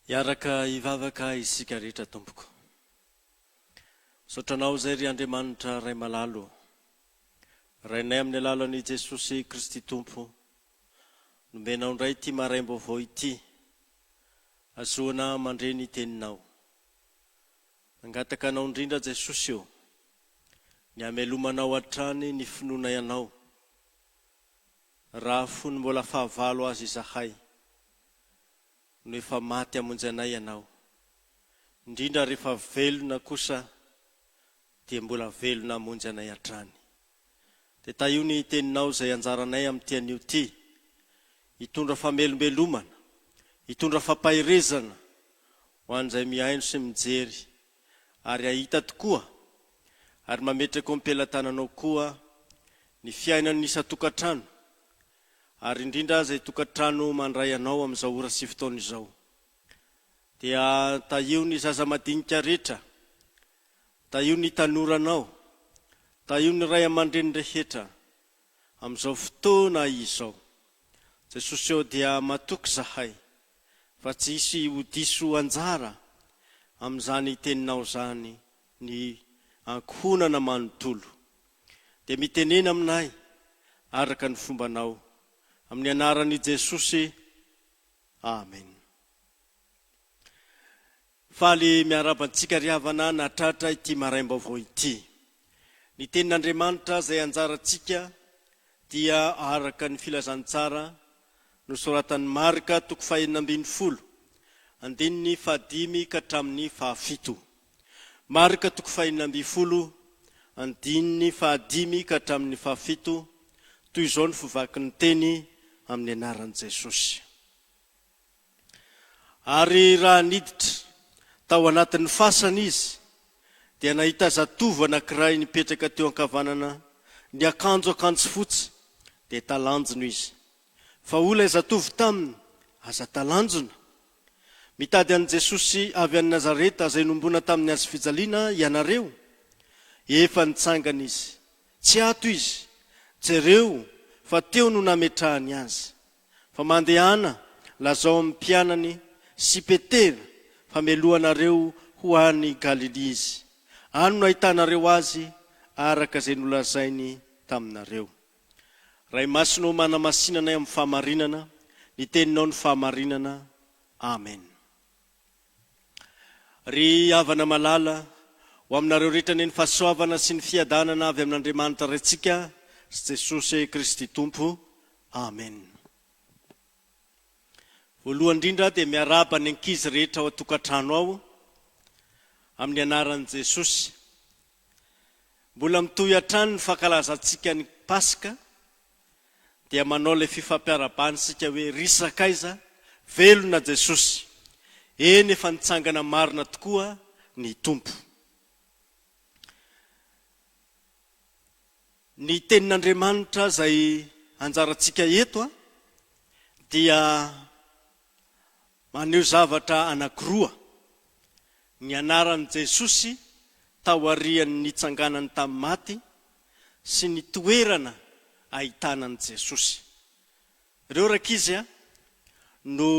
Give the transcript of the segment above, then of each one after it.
Hiaraka hivavaka isika rehetra tompoko. Misaotra anao izay ry Andriamanitra Ray malalo. Rainay amin'ny alalan'i Jesosy Kristy Tompo, nomenao indray ity maraim-baovao ity, hazoana mandre ny teninao. Nangataka anao indrindra Jesosy ô, ny hamelomanao hatrany ny finoana ianao, raha fony mbola fahavalo aza izahay, no efa maty hamonjy anay ianao, indrindra rehefa velona kosa dia mbola velona hamonjy anay hatrany. Dia tahio ny teninao izay anjaranay amin'ity anio ity, hitondra famelombelomana, hitondra fampaherezana ho an'izay mihaino sy mijery ary hahita tokoa, ary mametraka eo am-pelatananao koa ny fiainan'ny isan-tokantrano, ary indrindra izay tokantrano mandray anao amin'izao ora sy fotoana izao. Dia tahio ny zaza madinika rehetra Tahio ny tanoranao. Tahio ny ray aman-dreny rehetra amin'izao fotoana izao. Jesosy ô dia matoky izahay fa tsy hisy ho diso anjara amin'izany teninao izany ny ankohonana manontolo. Dia mitenena aminay araka ny fombanao. Amin'ny anaran'i Jesosy. Amen. Faly miarahaba antsika ry havana nahatratra ity maraim-baovao ity. Ny tenin'Andriamanitra izay anjarantsika dia araka ny filazantsara nosoratan'i Marka toko fahenina ambin'ny folo, andininy fahadimy ka hatramin'ny fahafito. Marka toko fahenina ambin'ny folo, andininy fahadimy ka hatramin'ny fahafito, toy izao ny fivaky ny teny amin'ny anaran'i Jesosy. Ary raha niditra tao anatin'ny fasana izy, dia nahita zatovo anankiray nipetraka teo ankavanana, niakanjo akanjo fotsy, dia talanjona izy. Fa hoy ilay zatovo taminy, Aza talanjona! Mitady an'i Jesosy avy any Nazareta izay nombona tamin'ny hazo fijaliana ianareo? Efa nitsangana izy. Tsy ato izy. Jereo fa teo no nametrahany azy. Fa mandehana, lazao amin'ny mpianany sy Petera fa meloha anareo ho any Galilia izy. Any no ahitanareo azy araka izay nolazainy taminareo. Ray Masina ô manamasina anay amin'ny fahamarinana, ny teninao no fahamarinana. Amen. Ry havana malala, ho aminareo rehetra anie ny fahasoavana sy ny fiadanana avy amin'Andriamanitra Raintsika sy Jesosy Kristy Tompo. Amen. Voalohany indrindra aho dia miarahaba ny ankizy rehetra ao an-tokantrano ao amin'ny anaran'i Jesosy. Mbola mitohy hatrany ny fankalazantsika ny Paska. dia manao ilay fifampiarahabana isika hoe ry sakaiza, velona Jesosy, eny efa nitsangana marina tokoa ny Tompo. Ny tenin'Andriamanitra izay anjarantsika eto dia Maneho zavatra anankiroa ny anaran'i Jesosy taorian'ny nitsanganany tamin'ny maty sy ny toerana ahitana an'i Jesosy. Ireo rankizy no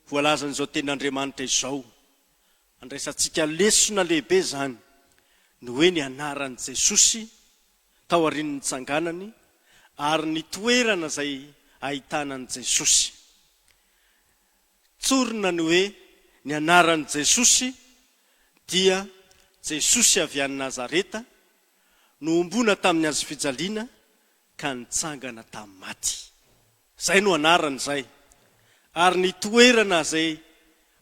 voalazan'izao tenin'Andriamanitra izao, Andraisantsika lesona lehibe izany ny hoe nianaran'i Jesosy taorian'ny nitsanganany ary ny toerana izay ahitana an'i Jesosy. Tsorina ny hoe nianaran'i Jesosy dia Jesosy avy any Nazareta, nohomboana tamin'ny hazofijaliana ka nitsangana tamin'ny maty. Izay no anarany izay. Ary ny toerana izay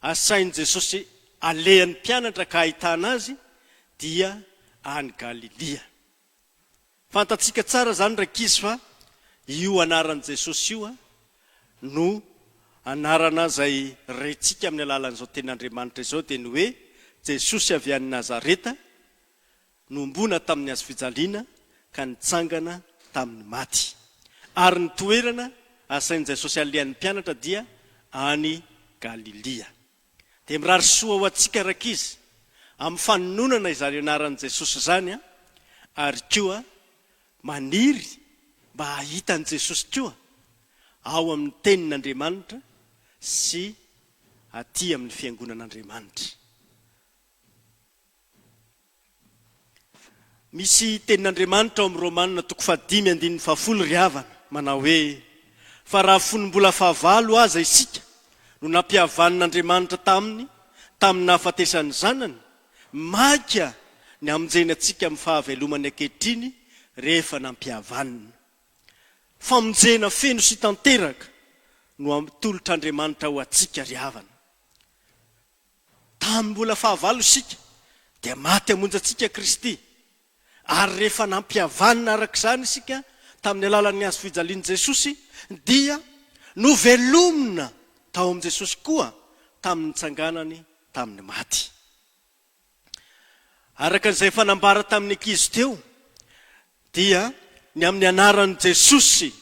asain'i Jesosy alehan'ny mpianatra ka ahitana azy dia any Galilia. Fantatsika tsara izany rankizy fa io anaran'i Jesosy io no anarana izay rentsika amin'ny alalan'izao tenin'Andriamanitra izao dia ny hoe Jesosy avy any Nazareta, Nohomboana tamin'ny hazo fijaliana ka nitsangana tamin'ny maty. Ary ny toerana asain'i Jesosy alehan'ny mpianatra dia any Galilia. Dia mirary soa ho antsika rankizy amin'ny fanononana izany anaran'i Jesosy izany ary koa maniry mba hahita an'i Jesosy koa ao amin'ny tenin'Andriamanitra sy aty amin'ny fiangonan'Andriamanitra. Misy tenin'Andriamanitra ao amin'ny Romana toko fahadimy andininy fahafolo ry havana, manao hoe, Fa raha fony mbola fahavalo aza isika no nampihavan'Andriamanitra taminy tamin'ny nahafatesany ny Zanany, mainka ny hamonjeny antsika amin'ny fahavelomany ankehitriny rehefa nampihavanina. Famonjena feno sy tanteraka no atolotr'Andriamanitra ho antsika ry havana. Tamin'ny mbola fahavalo isika, dia maty hamonjy antsika Kristy, ary rehefa nampihavanina araka izany isika tamin'ny alalan'ny hazo fijalian'i Jesosy, dia novelomina tao amin'i Jesosy koa tamin'ny nitsanganany tamin'ny maty. Araka izay efa nambara tamin'ny ankizy teo dia ny amin'ny anaran'i Jesosy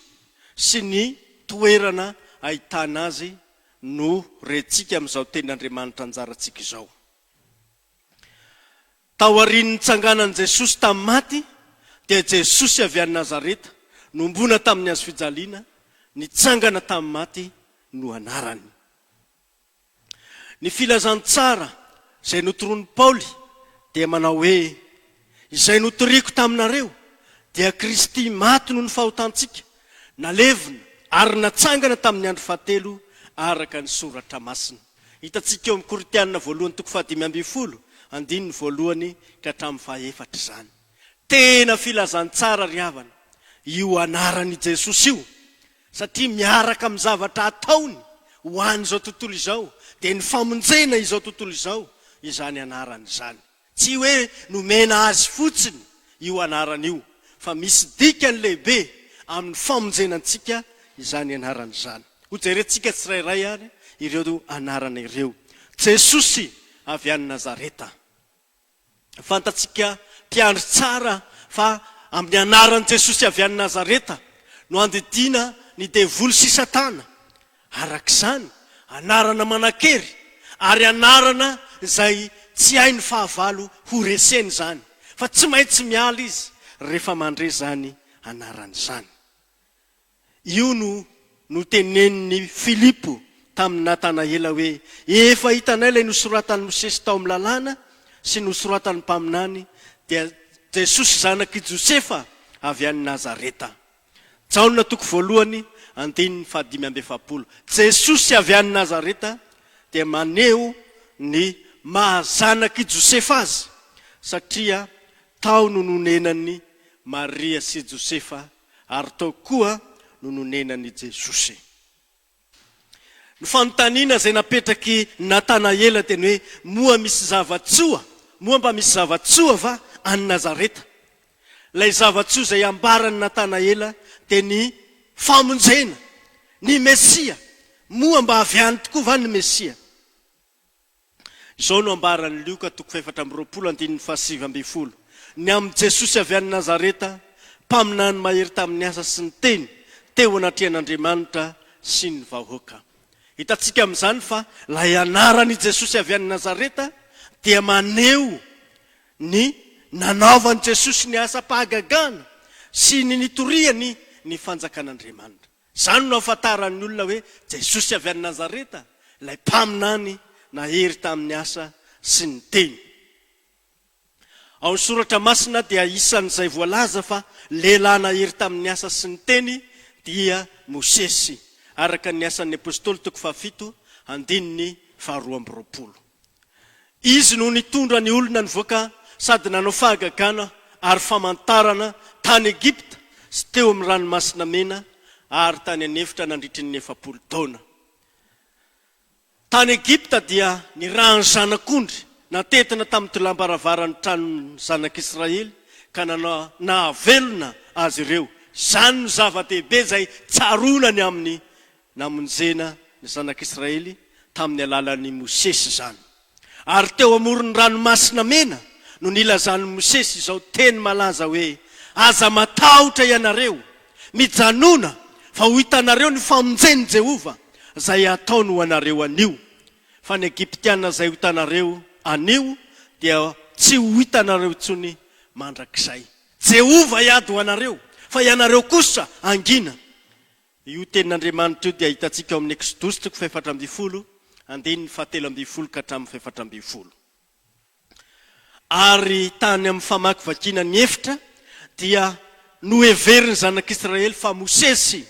sy ny toerana ahitana Azy no rentsika amin'izao Tenin'Andriamanitra anjarantsika izao. Taorian'ny nitsanganan'i Jesosy tamin'ny maty dia Jesosy avy any Nazareta, nombona tamin'ny hazofijaliana, nitsangana tamin'ny maty no anarany. Ny filazantsara izay notoroan'i Paoly dia manao hoe, Izay notoriako taminareo, dia Kristy maty noho ny fahotantsika, nalevina ary natsangana tamin'ny andro fahatelo araka ny Soratra Masina. Hitantsika eo amin'ny Korintiana voalohany toko fahadimy ambin'ny folo, andininy voalohany ka hatramin'ny fahefatra izany. Tena filazantsara ry havana io anaran'i Jesosy io! Satria miaraka amin'ny zavatra ataony ho an'izao tontolo izao dia ny famonjena izao tontolo izao izany anarany izany. Tsy hoe nomena azy fotsiny io anarana io fa misy dikany lehibe amin'ny famonjena antsika izany anarana izany. Hojerentsika tsirairay ary ireo anarana ireo. Jesosy avy any Nazareta. Fantatsika mpiandry tsara fa amin'ny anaran'i Jesosy avy any Nazareta no handidiana ny devoly sy Satana. Araka izany, anarana manan-kery ary anarana izay tsy hay ny fahavalo ho reseny izany, fa tsy maintsy miala izy rehefa mandre izany anarana izany. Io no notenenin'i Filipo tamin'i Natanaela hoe, Efa hitanay ilay nosoratan'i Mosesy tao amin'ny Lalàna sy nosoratan'ny mpaminany, dia Jesosy zanak'i Josefa avy any Nazareta. Jaona toko voalohany, andininy fahadimy amby efapolo. Jesosy avy any Nazareta dia maneho ny maha zanak'i Josefa azy, satria tao no nonenan'i Maria sy Josefa Ary tao koa no nonenan'i Jesosy. Ny fanontaniana izay napetrak'i Natanaela teny hoe, Moa misy zava-tsoa, moa mba misy zava-tsoa va any Nazareta? Ilay zava-tsoa izay ambaran'i Natanaela dia ny famonjena, ny Mesia. Moa mba avy any tokoa va ny Mesia? Izao no ambaran'i Lioka toko fahefatra amby roapolo andininy fahasivy ambin'ny folo, Ny amin'i Jesosy avy any Nazareta, mpaminany mahery tamin'ny asa sy ny teny, teo anatrehan'Andriamanitra sy ny vahoaka. Hitantsika amin'izany fa ilay anarana i Jesosy avy any Nazareta dia maneho ny nanaovan'i Jesosy ny asam-pahagagana sy ny nitoriany ny fanjakan'Andriamanitra. Izany no ahafantaran'ny olona hoe Jesosy avy any Nazareta ilay mpaminany nahery tamin'ny asa sy ny teny. Ao ny soratra masina dia isan'izay voalaza fa lehilahy nahery tamin'ny asa sy ny teny dia Mosesy, araka ny Asan'ny Apostoly toko fahafito, andininy faharoa amby roapolo. Izy no nitondra ny olona nivoaka sady nanao fahagagana ary famantarana tany Egypta sy teo amin'ny Ranomasina Mena ary tany an'efitra nandritry ny efapolo taona. Tany Egypta dia nirahan'ny zanak'ondry natentina tamin'ny tolam-baravaran'ny tranon'ny zanak'Israely ka nahavelona azy ireo. Izany no zava-dehibe izay tsaroana ny amin'ny Namonjena ny Zanak'Israely tamin'ny alalan'i Mosesy izany. Ary teo amoron'ny Ranomasina Mena no nilazan'i Mosesy izao teny malaza hoe, Aza matahotra ianareo. Mijanòna, fa ho hitanareo ny famonjen'i Jehovah, izay hataony ho anareo anio. Fa ny Egyptiana izay ho hitanareo anio, dia tsy ho hitanareo intsony mandrakizay. Jehovah hiady ho anareo, fa ianareo kosa hangina. Io tenin'Andriamanitra io dia hitantsika ao amin'ny Eksodosy toko fahefatra ambin'ny folo, andininy fahatelo ambin'ny folo ka hatramin'ny fahefatra ambin'ny folo. Ary tany amin'ny famakivakiana ny efitra dia noheverin'ny zanak'Israely fa Mosesy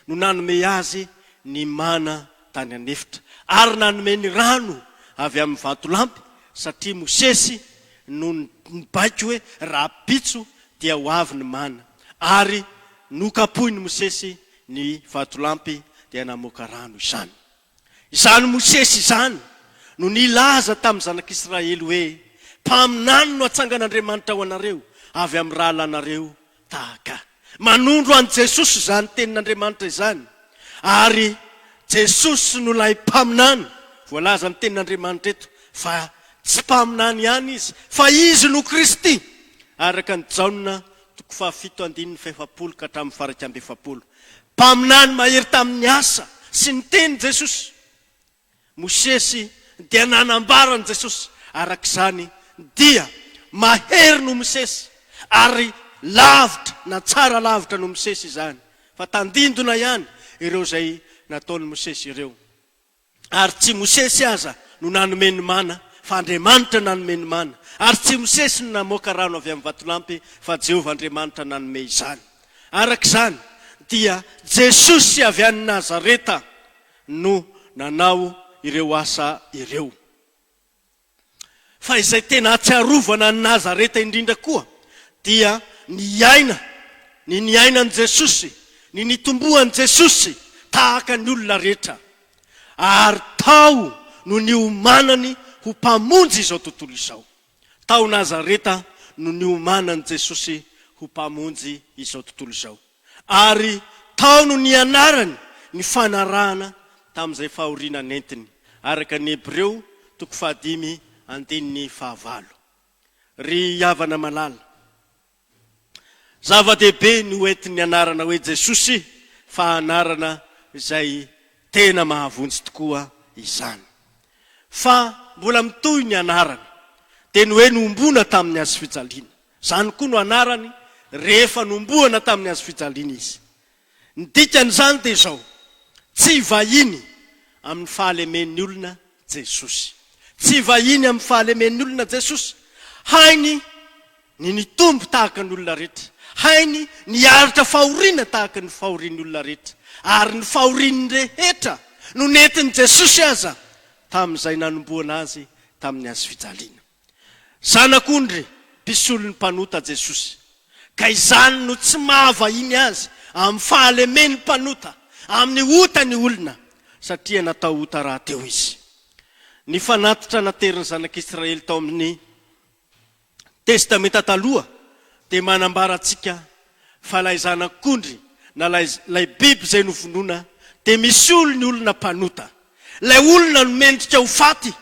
no nanome azy ny mana tany an'efitra, ary nanome ny rano avy amin'ny vatolampy, satria Mosesy no nibaiko hoe, Rahampitso dia ho avy ny mana. ary nokapohin'i Mosesy ny vatolampy dia namoaka rano izany. Izany Mosesy izany no nilaza tamin'ny zanak'Israely hoe, Mpaminany no atsangan'Andriamanitra ho anareo avy amin'ny rahalanareo tahaka. Manondro an'i Jesosy izany tenin'Andriamanitra izany, ary Jesosy no ilay Mpaminany voalaza amin'ny tenin'Andriamanitra eto, fa tsy Mpaminany ihany Izy, fa Izy no Kristy, araka an'i Jaona Toko fahafito andininy fahefapolo ka hatramin'ny fahairaika amby efapolo. Mpaminany mahery tamin'ny asa sy ny teny Jesosy. Mosesy dia nanambara an'i Jesosy, araka izany dia mahery noho Mosesy ary lavitra na tsara lavitra noho Mosesy izany, fa tandindona ihany ireo izay nataon'i Mosesy ireo. Ary tsy Mosesy aza no nanome ny mana, fa Andriamanitra nanome ny mana. Ary tsy Mosesy no namoaka rano avy amin'ny vatolampy, fa Jehovah Andriamanitra nanome izany. Araka izany, dia Jesosy avy any Nazareta no nanao ireo asa ireo. Fa izay tena ahatsiarovana an'i Nazareta indrindra koa dia ny aina, ny niainan'i Jesosy, ny nitomboan'i Jesosy tahaka ny olona rehetra, ary tao no niomanany ho Mpamonjy izao tontolo izao. Tao Nazareta no niomanan'i Jesosy ho Mpamonjy izao tontolo izao. Ary tao no nianarany ny fanarahana tamin'izay fahoriana nentiny, araka ny Hebreo toko fahadimy andininy fahavalo. Ry havana malala, zava-dehibe ny ho entin'ny anarana hoe Jesosy, fa anarana izay tena mahavonjy tokoa izany. Fa mbola mitohy ny anarana, dia ny hoe nombona tamin'ny hazofijaliana. Izany koa no anarany rehefa nombohana tamin'ny hazo fijaliana izy. Ny dikan'izany dia izao, Tsy vahiny amin'ny fahalemen'ny olona Jesosy. Tsy vahiny amin'ny fahalemen'ny olona Jesosy. Hainy ny nitombo tahaka ny olona rehetra. Hainy ny hiaritra fahoriana tahaka ny fahorian'ny olona rehetra. Ary ny fahorian'ny rehetra no nentin'i Jesosy aza tamin'izay nanombohana Azy tamin'ny hazo fijaliana. Zanak'ondry mpisolo ny mpanota Jesosy, ka izany no tsy maha vahiny Azy amin'ny fahalemen'ny mpanota amin'ny ota ny olona, satria natao ota rahateo Izy. Ny fanatitra naterin'ny Zanak'Israely tao amin'ny Testamenta Taloha dia manambara antsika fa ilay Zanak'ondry na ilay biby izay novonoina dia misolo ny olona mpanota. Ilay olona no mendrika ho faty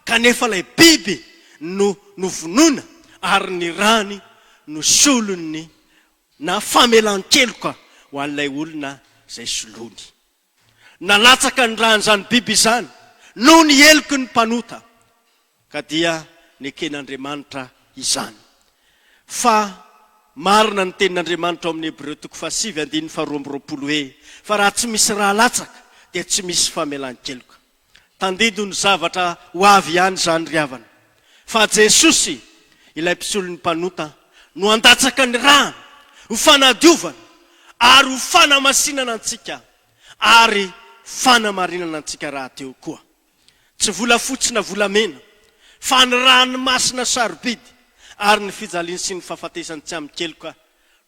kanefa ilay biby no novonoina ary ny rany no solony na famelan-keloka ho an'ilay olona izay soloany. Nalatsaka ny ran'izany biby izany noho ny heloky ny mpanota. Ka dia neken'Andriamanitra izany. Fa marina ny tenin'Andriamanitra ao amin'ny Hebreo toko fahasivy andininy faharoa amby roapolo hoe, Fa raha tsy misy rà latsaka, dia tsy misy famelan-keloka. Tandindono ny zavatra ho avy ihany izany ry havana. Fa Jesosy, ilay mpisolon'ny mpanota, no handatsaka ny ràny ho fanadiovana ary ho fanamasinana antsika ary fanamarinana antsika rahateo koa. Tsy volafotsy na volamena, fa ny ràny masina sarobidy ary ny fijaliany sy ny fahafatesany tsy amin-keloka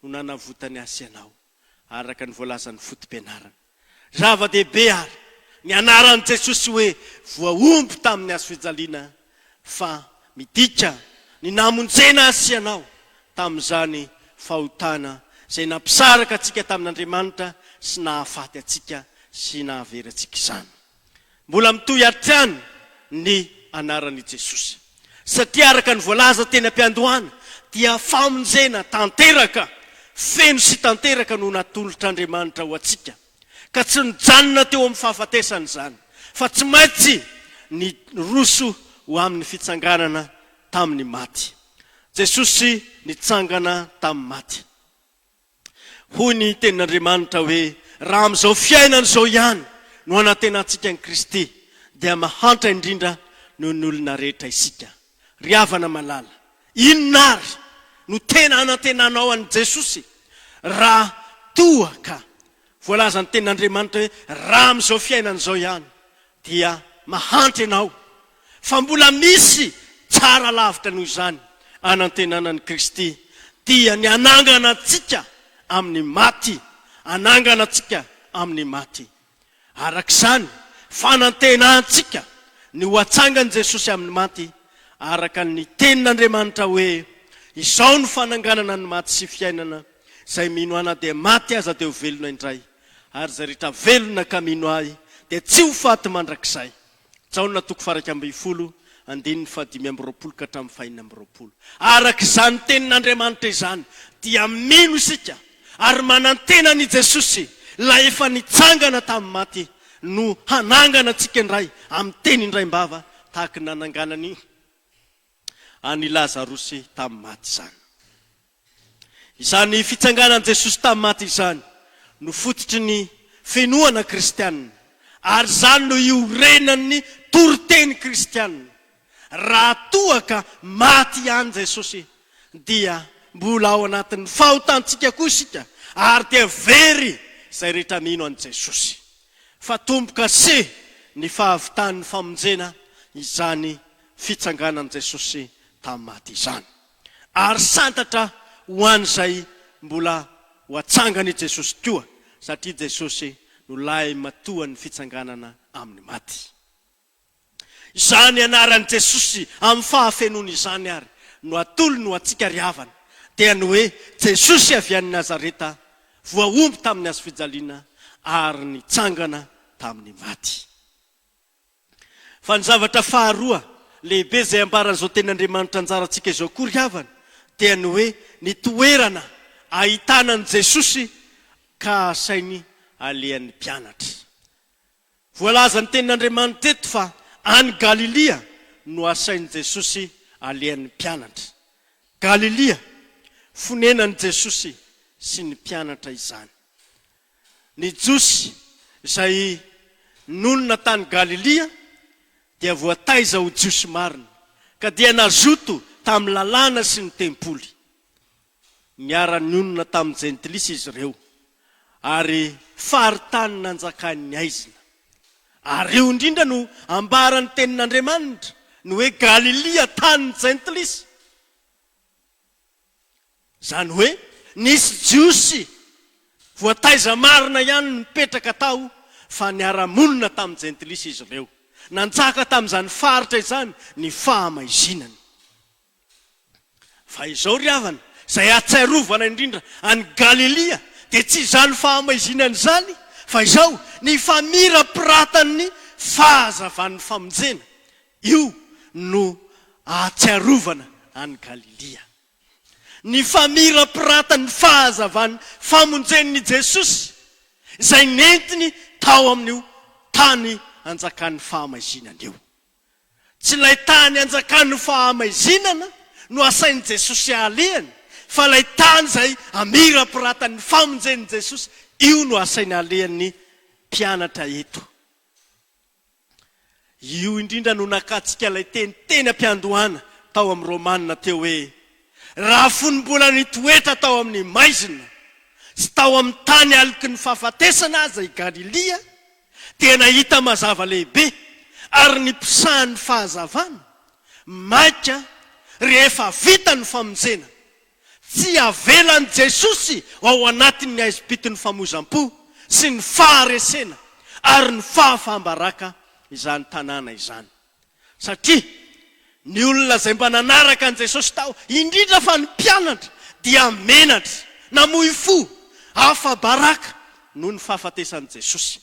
no nanavotany ahy sy ianao, araka ny voalazan'ny foto-pianarana. Zava-dehibe àry ny anaran'i Jesosy hoe voahombo tamin'ny hazo fijaliana, fa midika ny namonjena ahy sy ianao tamin'izany fahotana izay nampisaraka antsika tamin'Andriamanitra sy nahafaty antsika sy nahavery antsika izany. Mbola mitohy hatrany ny anaran' i Jesosy, satria araka ny voalaza teny am-piandohana dia famonjena tanteraka, feno sy tanteraka no natolotr' Andriamanitra ho antsika, ka tsy nijanona teo amin'ny fahafatesany izany, fa tsy maintsy niroso ho amin'ny fitsanganana tamin'ny maty. Jesosy nitsangana tamin'ny maty. Hoy ny Tenin'Andriamanitra hoe, Raha amin'izao fiainana izao ihany no anantenantsika an'i Kristy, dia mahantra indrindra noho ny olona rehetra isika. Ry havana malala, inona àry no tena anantenanao an'i Jesosy? Raha toa ka voalazan'ny Tenin'Andriamanitra hoe, Raha amin'izao fiainana izao ihany dia mahantra ianao fa mbola misy tsara lavitra noho izany anantenana an'i Kristy, dia ny hanangana antsika amin'ny maty, hanangana antsika amin'ny maty. Araka izany, fanantenantsika ny ho atsangan'i Jesosy amin'ny maty, araka ny tenin'Andriamanitra hoe, Izao no fananganana ny maty sy fiainana, izay mino Ana dia maty aza dia ho velona indray. Ary izay rehetra velona ka mino Ahy dia tsy ho faty mandrakizay. Jaona toko faha iraika ambin'ny folo, andininy faha dimy amby roapolo ka hatramin'ny faha enina amby roapolo. Araka izany tenin'Andriamanitra izany dia mino isika ary manantena an'i Jesosy, Ilay efa nitsangana tamin'ny maty, no hanangana antsika indray amin'ny teny indraim-bava tahaka ny nananganany an'i Lazarosy tamin'ny maty izany. Izany fitsanganan'i Jesosy tamin'ny maty izany no fototry ny fenohana kristiana, ary izany no iorenan'ny toriteny kristiana. Raha toa ka maty ihany Jesosy, dia mbola ao anatin'ny fahotantsika koa isika, ary dia very izay rehetra mino an'i Jesosy. Fa tombo kase ny fahavitan'ny famonjena izany fitsanganan'i Jesosy tamin'ny maty izany. ary santatra ho an'izay mbola ho atsangany i Jesosy koa, satria Jesosy no lahimatoan'ny fitsanganana amin'ny maty. Izany anaran'i Jesosy amin'ny fahafenoany izany ary no atolony ho antsika ry havana, dia ny hoe Jesosy avy any Nazareta, voahombo tamin'ny hazofijaliana ary nitsangana tamin'ny maty. Fa ny zavatra faharoa lehibe izay ambaran'izao tenin'Andriamanitra anjarantsika izao koa ry havana dia ny hoe ny toerana ahitana an'i Jesosy ka asainy alehan'ny mpianatra. Voalaza ny tenin'Andriamanitra eto fa any Galilia no asain'i Jesosy alehan'ny mpianatra. Galilia, fonenan'i Jesosy sy ny mpianatra izany. Ny Jiosy izay nonina tany Galilia dia voataiza ho Jiosy marina, ka dia nazoto tamin'ny Lalàna sy ny Tempoly. Niara-nionona tamin'ny Jentilisa izy ireo, ary faritany nanjakan'ny haizina. Ary io indrindra no ambaran'ny Tenin'Andriamanitra, ny hoe Galilia, tanin'ny Jentilisa. Izany hoe nisy Jiosy voataiza marina ihany nipetraka tao fa niara-monina tamin'ny Jentilisa izy ireo. Nanjaka tamin'izany faritra izany ny fahamaizinana. Fa izao ry havana, izay ahatsiarovana indrindra an'i Galilia dia tsy izany fahamaizinana izany fa izao, ny famirapiratan'ny fahazavan'ny famonjena. Io no ahatsiarovana an'i Galilia. Ny famirapiratany fahazavan'ny famonjen'i Jesosy izay nentiny tao amin'io tany anjakan'ny fahamaizinana io. Tsy ilay tany anjakan'ny fahamaizinana no asain'i Jesosy alehany fa ilay tany izay amirapiratan'ny famonjen'i Jesosy io no asainy alehan'ny mpianatra eto. Io indrindra no nakatsika ilay teny teny am-piandohana tao amin'ny Romana teo hoe, Raha fony mbola nitoetra tao amin'ny maizina sy tao amin'ny tany aloky ny fahafatesana aza i Galilia, dia nahita mazava lehibe ary niposahan'ny fahazavana maika rehefa vita ny famonjena. Tsy avelan'i Jesosy ao anatin'ny haizim-pitin'ny famoizam-po sy ny faharesena ary ny fahafaham-baraka izany tanàna izany. Satria ny olona izay mba nanaraka an'i Jesosy tao, indrindra fa ny mpianatra, dia menatra, namoy fo, afa-baraka noho ny fahafatesan'i Jesosy.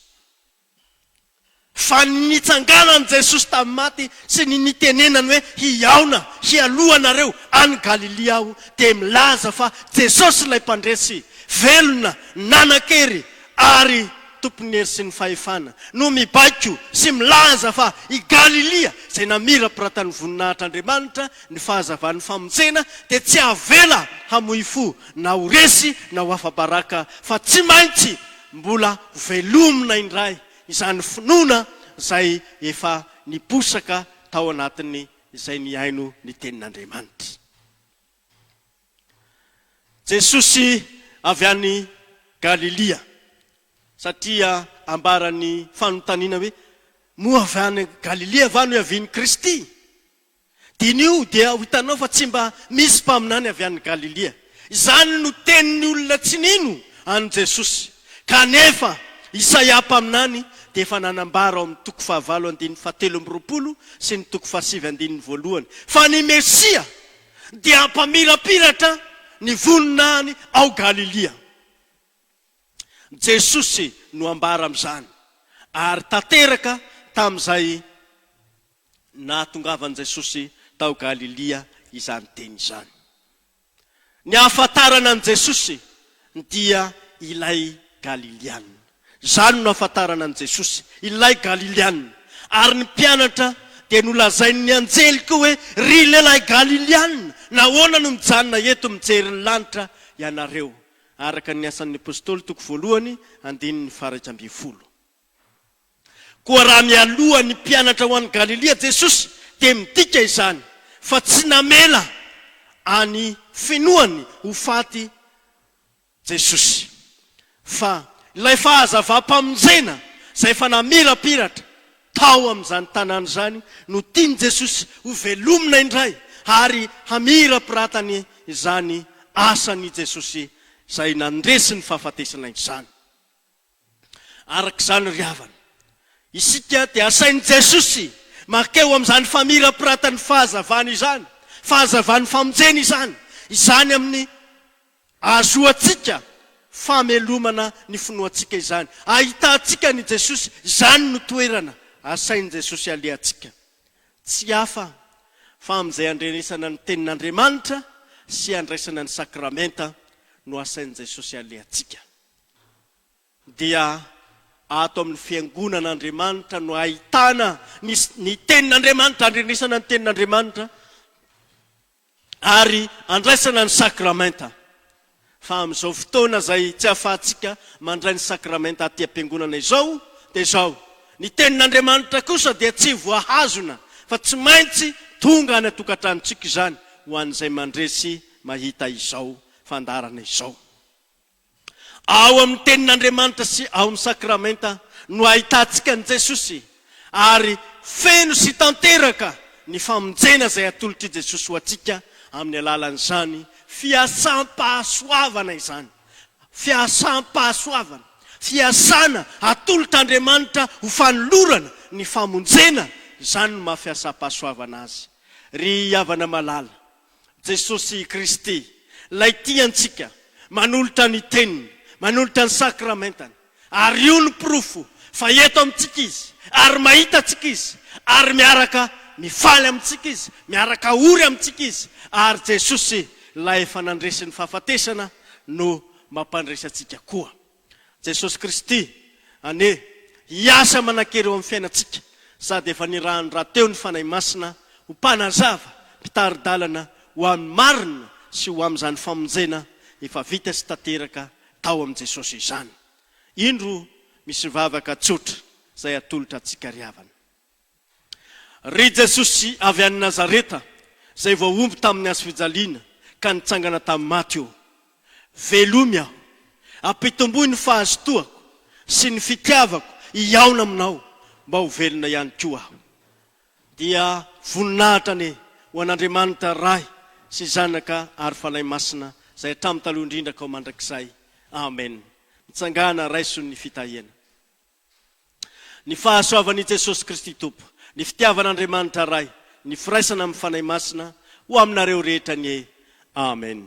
Fa ny nitsanganan'i Jesosy tamin'ny maty sy ny nitenenany hoe hihaona hialoha anareo any Galilia aho dia milaza fa Jesosy ilay Mpandresy velona nanan-kery ary Tompon'ny hery sy ny fahefana no mibaiko sy milaza fa i Galilia izay namirapiratan'ny voninahitr'Andriamanitra ny fahazavan'ny famonjena dia tsy havela hamoy fo na ho resy na ho afa-baraka fa tsy maintsy Mbola velomina indray izany finoana izay efa niposaka tao anatin'ny izay nihaino ny tenin'Andriamanitra. Jesosy avy any Galilia, satria ambaran'ny fanontaniana hoe, Moa avy any Galilia va no ihavian'i Kristy? Diniho dia ho hitanao fa tsy mba misy mpaminany avy any Galilia. Izany no tenin'ny olona tsy nino an'i Jesosy. Kanefa, Isaia mpaminany dia efa nanambara ao amin'ny toko fahavalo andininy fahatelo amby roapolo sy ny toko fahasivy andininy voalohany fa ny Mesia dia hampamirapiratra ny voninahiny ao Galilia. Jesosy no ambara amin'izany ary tanteraka tamin'izay nahatongavan'i Jesosy tao Galilia izany teny izany. Ny ahafantarana an'i Jesosy dia ilay Galiliana. Izany no nahafantarana an'i Jesosy, ilay Galiliana. Ary ny mpianatra dia nolazain'ny anjely koa hoe, Ry lehilahy Galiliana, nahoana no mijanona eto mijery ny lanitra ianareo? Araka ny Asan'ny Apostoly, toko voalohany, andininy faha iraika ambin'ny folo. Koa raha mialoha ny mpianatra ho any Galilia Jesosy dia midika izany fa tsy namela any finoany ho faty Jesosy fa ilay fahazavam-pamonjena izay efa namirapiratra tao amin'izany tanàna izany no tian'i Jesosy ho velomina indray ary hamirapiratany izany asan'i Jesosy izay nandresy ny fahafatesana izany. Araka izany ry havana, isika dia asain'i Jesosy mankeo amin'izany famirapiratany fahazavana izany, fahazavan'ny famonjena izany, izany amin'ny ahazoantsika famelomana ny finoantsika izany, ahitantsika an'i Jesosy, izany no toerana asain'i Jesosy halehantsika. Tsy hafa fa amin'izay handrenesana ny Tenin'Andriamanitra sy handraisana ny Sakramenta no asain'i Jesosy halehantsika. dia ato amin'ny Fiangonan'Andriamanitra no ahitana ny ny Tenin'Andriamanitra, andrenesana ny Tenin'Andriamanitra ary andraisana ny Sakramenta. Fa amin'izao fotoana izay tsy ahafahantsika mandray ny Sakramenta aty am-piangonana izao dia izao, ny Tenin'Andriamanitra kosa dia tsy voahazona fa tsy maintsy tonga any an-tokantranontsika izany ho an'izay mandresy mahita izao fandaharana izao. Ao amin'ny Tenin'Andriamanitra sy ao amin'ny Sakramenta no ahitantsika an'i Jesosy ary feno sy tanteraka ny famonjena izay atolotr'i Jesosy ho antsika amin'ny alalan'izany fiasam-pahasoavana izany. Fiasam-pahasoavana, fiasana atolotr'Andriamanitra ho fanolorana ny famonjena, izany no maha fiasam-pahasoavana azy. Ry havana malala, Jesosy Kristy, Ilay tia antsika, manolotra ny Teniny, manolotra ny Sakramentany. Ary io no porofo fa eto amintsika Izy, ary mahita antsika Izy, ary miaraka mifaly amintsika Izy, miaraka ory amintsika Izy. Ary Jesosy, Ilay efa nandresy ny fahafatesana, no mampandresy antsika koa. Jesosy Kristy anie hiasa manan-kery eo amin'ny fiainantsika sady efa nirahany rahateo ny Fanahy Masina ho mpanazava, mpitari-dalana ho amin'ny marina sy ho amin'izany famonjena efa vita sy tanteraka tao amin'i Jesosy izany. Indro misy vavaka tsotra izay atolotra antsika ry havana. Ry Jesosy avy any Nazareta izay voahombo tamin'ny hazofijaliana ka nitsangana tamin'ny maty ô! Velomy aho, ampitomboy ny fahazotoako sy ny fitiavako hihaona aminao mba ho velona ihany koa aho. Dia voninahitra anie ho an'Andriamanitra Ray sy Zanaka ary Fanahy Masina izay hatramin'ny taloha indrindra k'ao mandrakizay. Amen. Mitsangàna raiso ny fitahiana. Ny fahasoavan' i Jesosy Kristy Tompo, ny fitiavan' Andriamanitra Ray, ny firaisana amin' ny Fanahy Masina ho aminareo rehetra anie. Amena.